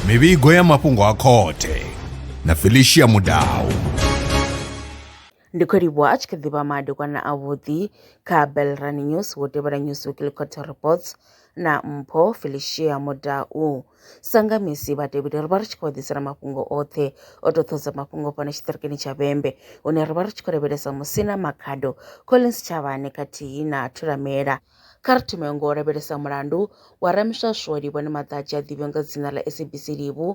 mivhigo ya mafhungo a khothe na felicia mudau ndi khou livhuwa a tshi kha ḓi vha madekwana avhuḓi kha belrani news wo tevhela news weekly quarter reports na mpho felicia mudau sanga misi vhatevheli ri vha ri tshi khou ḓisela mafhungo oṱhe o to ṱhodza mafhungo fhano tshiṱirikini tsha vhembe hune ri vha ri tshi khou lavhelesa musina makhado collins tshavhane khathihi na thulamela Kha ri thome ngo lavhelesa mulandu wa Ramiswaswo Livhoni Maḓadzhi a ḓivhiwa nga dzina ḽa SABC Livhu.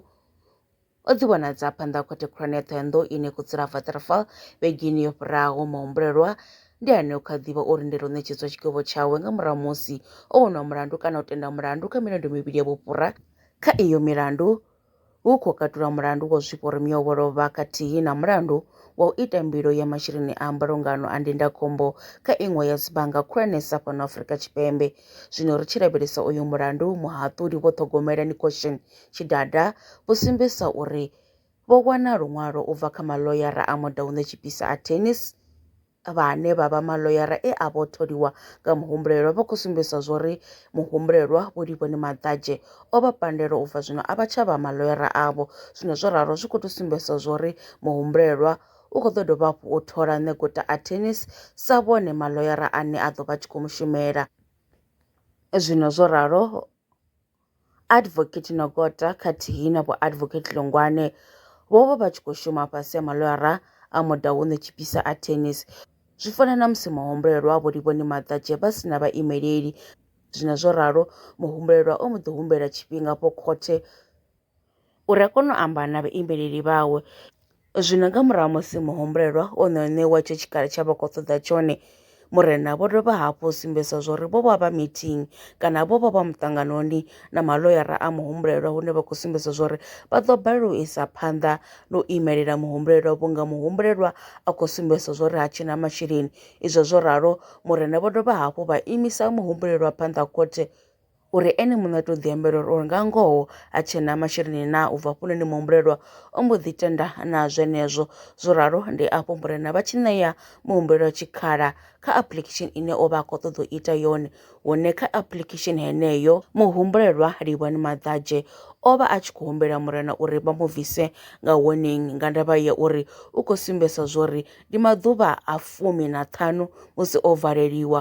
O ḓi vhonadza phanḓa ha khothe khulwane ya Ṱhohoyanḓou ine khotsi ḽa Waterfall vhegeni yo fhiraho. Mahumbulelwa ndi ane o kha ḓivha o lindela u ṋetshedzwa tshigwevho tshawe nga murahu musi o wonwa mulandu kana u tenda mulandu kha milandu mivhili ya vhufhura. Kha iyo milandu, hu khou katula mulandu wa zwiporimiwa wo lovha khathihi na mulandu wa u ita mbilo ya masheleni a mbulungano a ndindakhombo kha iṅwe ya dzibannga khulwanesa fhano Afrika Tshipembe. Zwino ri tshi lavhelesa uyu mulandu, muhaṱuli Vho Ṱhogomela Nicochin Tshidada vho sumbedzisa uri vho wana luṅwalo u bva kha maḽoyara a Motaung Tshipisa Attorneys, vhane vha vha maḽoyara e a vho tholiwa nga muhumbulelwa vha khou sumbedzisa zwori muhumbulelwa Vho Livhoni Maḓadzhe o vha pandela u bva zwino a vha tsha vha maḽoyara avho. Zwino zwo ralo zwi khou tou sumbedzisa zwori muhumbulelwa u khou ḓo dovha hafhu u thola Ṋeguta Attorneys sa vhone maḽoyara ane a ḓo vha tshi khou mushumela. Zwino zwo ralo. Advocate Nogota khathihi na Vho Advocate Lungwane vho vha vha tshi khou shuma fhasi ha malwara a Motaung Tshipisa Attorneys. Zwi fana na musi muhumbulelwa a Vho Livhoni Maḓadzhe vha si na vhaimeleli. Zwine zwo ralo, muhumbulelwa o mbo ḓi humbela tshifhinga afho khothe. uri a kone u amba na vhaimeleli vhawe. Zwino nga murahu musi muhumbulelwa o no ṋewa itsho tshikhala tsha vha khou ṱoḓa tshone, Murena vho dovha hafhu u sumbedzisa zwa uri vho vha vha meeting kana vho vha vha muṱanganoni na maḽoyara a muhumbulelwa hune vha khou sumbedza zwa uri vha ḓo balelwa u isa phanḓa na u imelela muhumbulelwa vhunga muhumbulelwa a khou sumbedzisa zwa uri ha tshena masheleni. Izwo zwo ralo Murena vho dovha hafhu vha imisa muhumbulelwa phanḓa ha khothe. uri ene muṋe a tou ḓiambela uri uri nga ngoho ha tshena masheleni na u bva hafhunoni muhumbulelwa o mbo ḓi tenda na zwenezwo zwo ralo ndi afho murena vha tshi ṋea muhumbulelwa tshikhala kha application ine o vha a khou ṱoḓa u ita yone hune kha application heneyo muhumbulelwa livhani maḓadzhe o vha a tshi khou humbela murena uri vha mu bvise nga warning nga ndavha ya uri u khou sumbedzisa zwori ndi maḓuvha a fumi na ṱhanu musi o valeliwa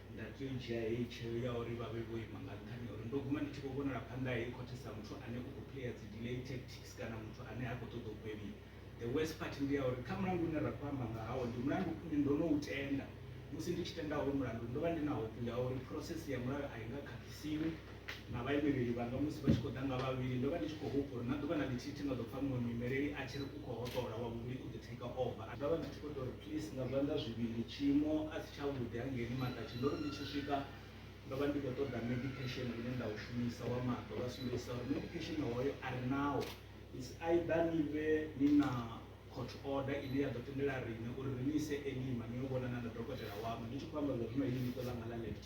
Nda tea u dzhia heyi tsheo ya uri vha vhe vho ima nga nṱhani ha uri ndo guma ndi tshi khou vhonala phanḓa ha heyi khothe sa muthu ane u khou player dzi delay tactics kana muthu ane ha khou ṱoḓa u gwevhiwa. The worst part ndi ya uri kha mulandu une ra khou amba nga hawo ndi mulandu une ndo no u tenda. Musi ndi tshi tenda hoyu mulandu ndo vha ndi na hope ya uri process ya mulayo a i nga khakhisiwi. na vhaimeleli vhanga musi vha tshi khou ḓa nga vhavhili, ndo vha ndi tshi khou hupfa uri na ḓuvha na ḽithihi thi nga ḓo pfa muṅwe muimeleli a tshi ri u khou hoṱola, wa vhuvhili u ḓo take over. Ndo vha ndi tshi khou tou ri, Please, nga zwanḓa zwivhili, tshiimo a si tshavhuḓi hangei ni maṱatshe. Ndo ri ndi tshi swika, ndo vha ndi khou ṱoḓa medication une nda u shumisa wa maṱo, vha sumbedzisa uri medication hoyo a ri nawo. It's either ni vhe ni na court order ine ya ḓo tendela riṋe uri ri ni ise Elima ni yo vhonana na dokotela waṋu. Ndi tshi khou amba zwa zwino heḽi ḽiṱo ḽanga ḽa left.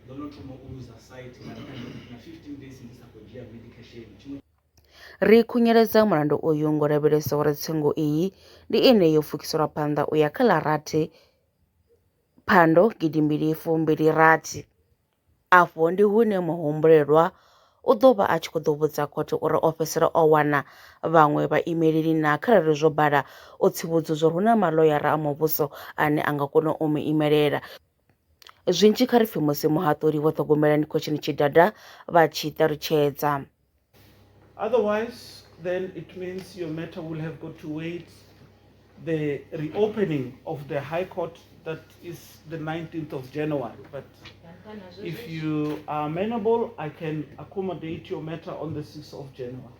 ndo no thoma u luza sight na 15 days ndi sa khou dzhia medication tshiṅwe Ri khunyeledza mulandu uyu ngo lavhelesa uri tsengo iyi ndi ine yo pfukiselwa phanḓa u ya kha ḽa rathi phando gidi mbili fumbili rathi. Afho ndi hune muhumbulelwa u ḓo vha a tshi khou ḓo vhudza khothe uri o fhedzisela o wana vhaṅwe vhaimeleli na kharali zwo bala o tsivhudzudzwa hu na maḽoyara a muvhuso ane a nga kona u mu imelela. Zwinzhi kha ri pfi musi muhaṱuli vho ṱhogomela ni khotsheni tshidada vha tshi ṱalutshedza. Otherwise then it means your matter will have got to wait the reopening of the high court that is the 19th of January but if you are amenable I can accommodate your matter on the 6th of January.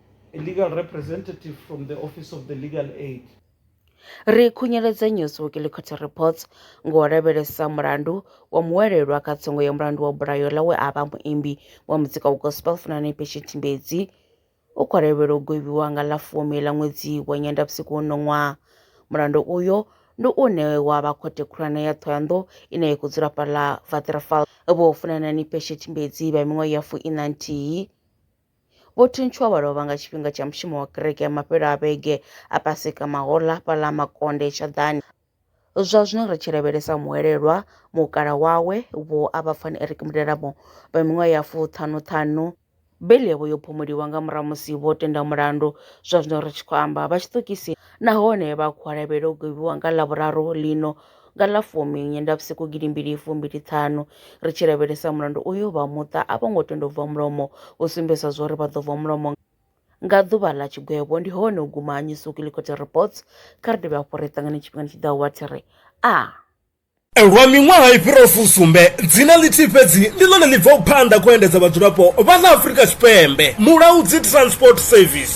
Ri khunyeledza News Weekly Court Reports ngo lavhelesa mulandu wa muwelelwa kha tsongo ya mulandu wa bulayo ḽa we a vha muimbi wa muzika wa gospel Funani Patient Mbedzi u khou lavhelelwa u gwevhiwa nga ḽa fumi ḽa ṅwedzi wa Nyendavhusiku uno ṅwaha. Mulandu uyo ndi une wa vha khothe khulwane ya Thohoyandou ine ya khou dzula fhaḽa Waterval. Vho Funanani Patient Mbedzi vha miṅwaha ya fu-iṋa-nthihi. Vho thuntshiwa vha lovha nga tshifhinga tsha mushumo wa kereke ya mafhelo a vhege a Paseka mahoḽa fhaḽa Makonde Shaḓani. Zwa zwino ri tshi lavhelesa muhwelelwa mukala wawe vho a vha pfani Eric Mudelabo vha miṅwaha ya fuṱhanu ṱhanu beli yavho yo phumuliwa nga murahu musi vho tenda mulandu zwa zwino ri tshi khou amba vha tshiṱokisini nahone vha khou lavhelela u gwiwa nga Ḽavhuraru ḽino Nga ḽa fumi Nyendavhusiku gidimbili fumbili ṱhanu, ri tshi lavhelesa mulandu uyo, vha muṱa a vho ngo tenda u bva mulomo, u sumbedzisa zwauri vha ḓo bva mulomo nga ḓuvha ḽa tshigwevho. Ndi hone u guma ha New Swahili Court Reports. Kha ri dovhe hafhu ri ṱangane tshifhingani tshi ḓaho wa thi ri a. Lwa miṅwaha i fhiraho fusumbe, dzina ḽithihi fhedzi ndi ḽone ḽi bvaho phanḓa kha u endedza vhadzulapo vha ḽa Afrika Tshipembe, Mulaudzi Transport Service.